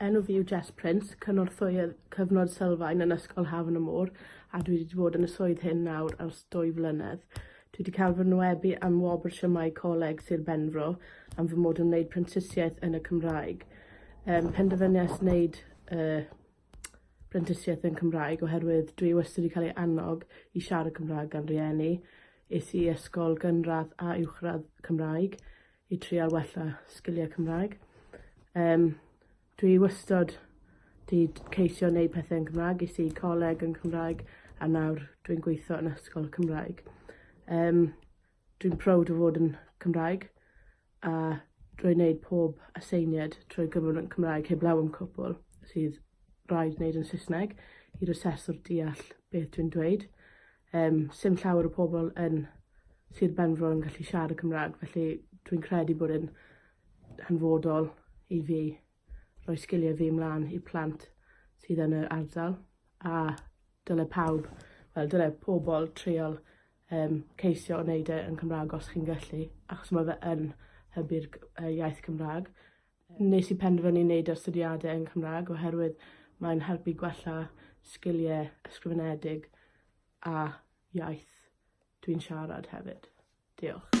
Enw fi yw Jess Prince, cynorthwyydd Cyfnod Sylfaen yn Ysgol Hafan y Môr a dwi wedi bod yn y swydd hyn nawr ers dwy flynedd. Dwi wedi cael fy nwynebu am Wobr Siamau Coleg Sir Benfro am fy mod yn wneud prentisiaeth yn y Cymraeg. Um, penderfyniais wneud uh, brentisiaeth yn Cymraeg oherwydd dwi wastad wedi cael ei annog i siarad Cymraeg gan rieni. Es i ysgol gynradd a uwchradd Cymraeg. i trial wella sgiliau Cymraeg. Um, dwi wastod di ceisio wneud pethau yn Cymraeg, i si coleg yn Cymraeg, a nawr dwi'n gweithio yn ysgol Cymraeg. Um, dwi'n proud o fod yn Cymraeg, a drwy wneud pob aseiniad trwy gyfrwng yn Cymraeg heblaw am cwpl sydd rhaid wneud yn Saesneg i'r aseswr deall beth dwi'n dweud. Yym, sdim llawer o pobl yn Sir Benfro yn gallu siarad y Cymraeg, felly dwi'n credu bod yn hanfodol i fi roi sgiliau fi ymlaen i plant sydd yn yr ardal, a dyle pawb, wel dyle pobl treol um, ceisio o wneud e yn Cymraeg os chi'n gallu, achos mae fe yn hybu'r iaith Cymraeg. Nes i penderfynu wneud astudiadau yn Cymraeg oherwydd mae'n helpu gwella sgiliau ysgrifenedig a iaith dwi'n siarad hefyd. Diolch.